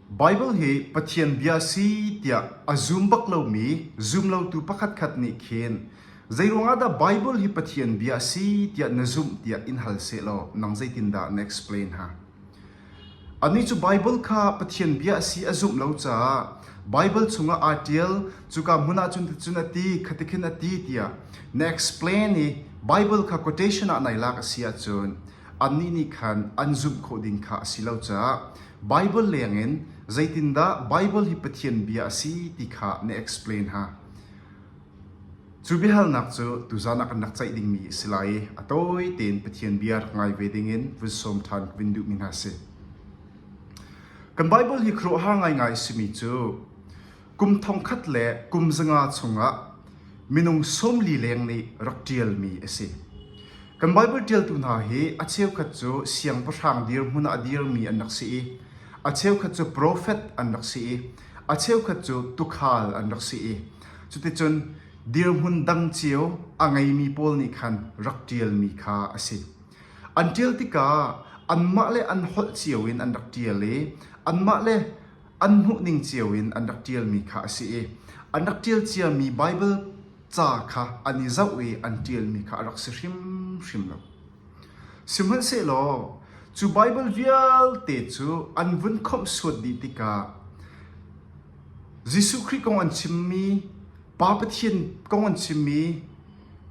Baibal hi Pathian Bia a si tiah a zum bak lomi zumlotu pakhatkhat nih khin zeiruangah dah Baibal hi Pathian Bia a si tiah na zumh tiah in hal sehlaw nang zeitindah na explain ha? Annih cu Baibal kha Pathian Bia a si a zumh lo caah Baibal chungah aa ṭial, cuka hmun ah cun cuticun a ti, khatikhin a ti tiah na explain i Baibal kha quotation ah nai lak a si ahcun annih nih khan an zumh khawh ding kha a si lo caah Baibal lengin zeitindah Baibal hi Pathian bia a si ti kha na explain ha. Cu biahalnak cu tuzan ah kan rak ceih dingmi a si lai i a tawi tein Pathian bia rak ngai ve dingin vun sawm ṭhan vin duh mi hna si. Kan Baibal hi khuaruahhar ngaingai simi cu Kum thongkhat le kum zanga chungah minung sawmli leng nih rak ṭialmi a si. Kan Baibal ṭialtu hna hi a cheukhat cu siangpahrang dirhmun ah dirmi an rak si i a cheukhat cu profet an rak si i a cheukhat cu tuukhal an rak si i cuticun dirhmun dang cio a ngeimi pawl nih khan rak ṭialmi kha a si. An ṭial tikah anmah le an holh cio in an rak ṭial i anmah le an hmuhning cio in an rak ṭialmi kha a si i an rak ṭial ciami Baibal ca kha an i zoh i an ṭialmi kha a rak si hrimhrim lo. Sihmanhsehlaw cu Baibal vialte cu an vun khomh suat dih tikah Jesuh Khrih kong an chimmi Pa Pathian kong an chimmi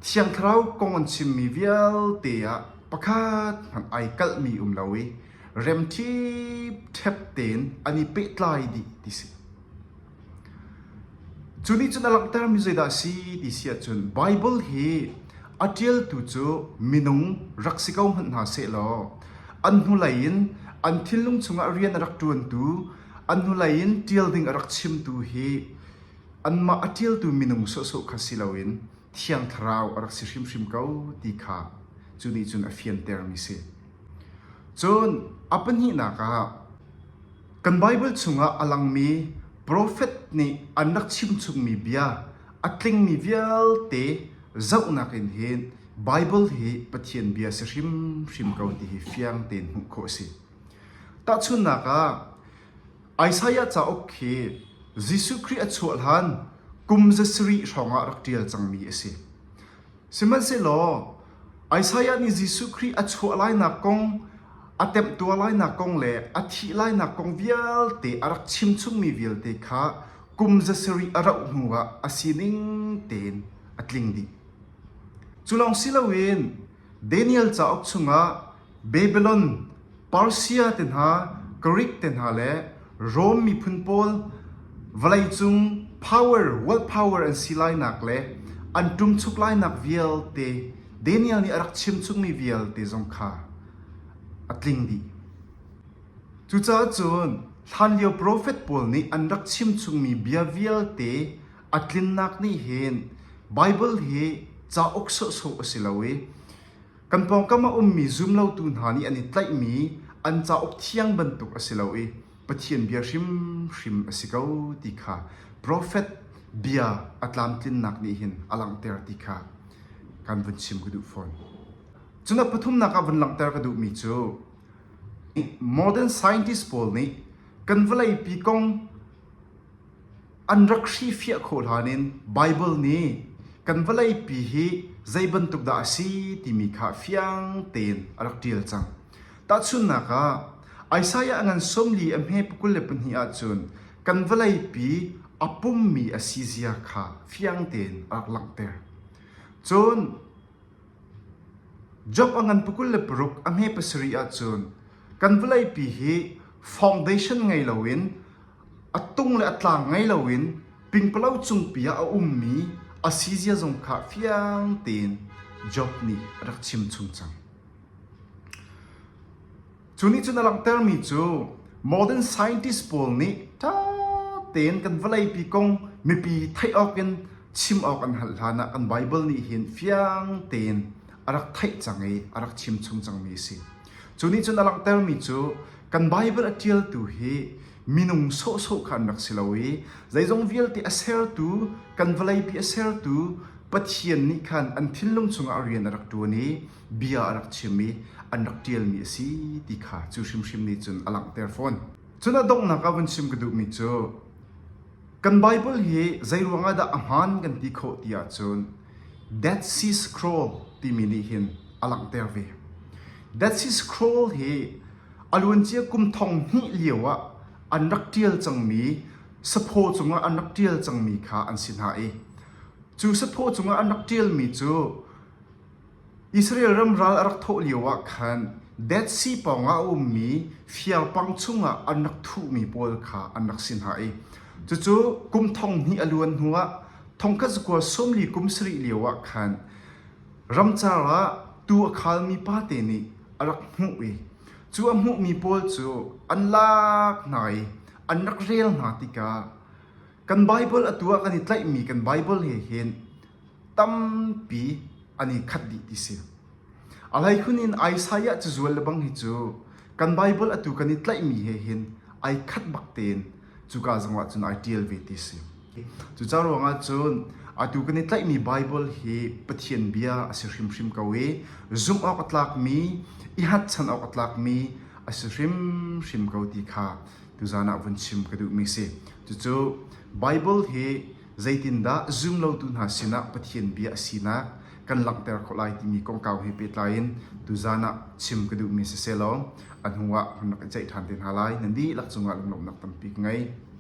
Thiang Thlarau kong an chimmi vialte ah pakhat hmanh ai kalhmi um lo i rem ṭhipṭhep tein an i pehtlai dih ti si. Cu nih cun a langhtermi zeidah a si ti si ahcun Baibal hi a ṭialtu cu minung rak si ko hmanh hna seh law an hnulei in an thinlung chungah rian a rak ṭuantu an hnulei in ṭial ding a rak chimtu hi anmah a ṭialtu minung sawhsawh kha si loin thiang thlarau a rak si hrimhrim ko ti kha cu nih cun a fiantermi si. Cun a pahnihnak ah kan Baibal chungah a langmi profet nih an rak chimchungmi bia a tlingmi vialte zohnak in hin Baibal hi Pathian Bia a si hrimhrim ko ti hi fiang tein hmuh khawh a si. Tahchunhnak ah, Isaiah cauk hi Jesuh Khrih a chuah hlan kum zasarih hrawngah rak ṭial cangmi a si. Sihmanhsehlaw Isaiah nih Jesuh Khrih a chuah lainak kong, a temtuar lainak kong le a thih lainak kong vialte a rak chimchungmi vialte kha kum za sarih a rauh hnuah a sining tein a tling dih. Cu lawng si loin Daniel cauk chungah Babilon, Persia te hna, Grik te hna le Rom miphun pawl vawleicung power world power an si lainak le an ṭumchuk lainak vialte Daniel nih a rak chimchungmi vialte zong kha a tling dih. Cucaah cun hlanlio profet pawl nih an rak chimchungmi bia vialte a tlinnak nih hin Baibal hi cauk sawhsawh a si lo i Kan pawngkam a ummi zumlotu hna nih an i tlaihmi an cauk thiang bantuk a si lo i Pathian bia hrimhrim a si ko ti kha profet bia a tlamtlinnak nih hin a langhter ti kha kan vun chim ka duh fawn. Cun pathumnak ah vun langhter ka duhmi cu modern scientist pawl nih kan vawleipi kong An rak hrifiah khawh hlan in Baibal nih kan vawleipi hi zei bantuk dah a si timi kha fiang tein a rak ṭial cang. Tahchunhnak ah, Isaiah ngan sawmli a hme pakul le pahnih ahcun kan vawleipi a pummi a si zia kha fiang tein a rak langhter. Cun Job a ngan pakul le paruk a hme pasarih ahcun kan vawleipi hi foundation ngei loin A tung le a tlang ngei loin pingpalo cungpi ah a ummi a sizia zong kha fiang tein Job nih a rak chimchung cang. Cu nih cun a langhtermi cu modern scientist pawl nih ṭha tein kan vawleipi kong mipi theih awk in chim awk an hal hlanah kan Baibal nih hin fiang tein a rak theih cang i a rak chimchung cangmi a si. Cu nih cun a langhtermi cu kan Baibal a ṭialtu hi minung sawhsawh kha an rak si lo i zeizong vialte a sertu kan vawleipi a sertu Pathian nih khan an thinlung chungah rian a rak ṭuan i bia a rak chim i an rak ṭialmi a si ti kha cu hrimhrim nih cun a langhter fawn. Cun a donghnak ah vun chim ka duhmi cu kan Baibal hi zei ruangah dah a hmaan kan ti khawh ti ahcun Dead Sea Scroll timi nih hin a langhter ve. Dead Sea Scroll hi a luancia kum thong hnih lio ah an rak ṭial cangmi saphaw cungah an rak ṭial cangmi kha an si hna i cu saphaw cungah an rak ṭialmi cu Israel ram ral a rak thawh lioah khan Dead Sea pawngah a ummi fiarpang chungah an rak thuhmi pawl kha an rak si hna i cucu kum thong hnih a luan hnuah thongkhat zakua sawmli kum sarih lioah khan ramcar ah tuu a khalmi pate nih a rak hmuh i cu a hmuhmi pawl cu an lak hna i an rak rel hna tikah kan Baibal atu ah kan i tlaihmi kan Baibal he hin tampi an i khat dih ti si. A hleikhun in Isaiah cazual le bang hi cu kan Bible atu kan i tlaihmi he hin ai khat bak tein cuka zongah cun ai ṭial ve ti si. Cuca ruangah cun atu kan i tlaihmi Bible hi Pathian bia a si hrimhrim ko i zumh awk a tlakmi, i hatchan awk a tlakmi a si hrimhrim ko ti kha tuzan ah vun chim ka duhmi si. Cucu Bible hi Zeitindah zumlotu hna sinah Pathian bia a sinak kan langhter khawh lai timi kongkau he pehtlai in tuzan ah chim ka duhmi siselaw a hnuah hun rak i ceih ṭhan te hna lai. Nan dihlak cungah lunglawmhnak tampi ka ngei.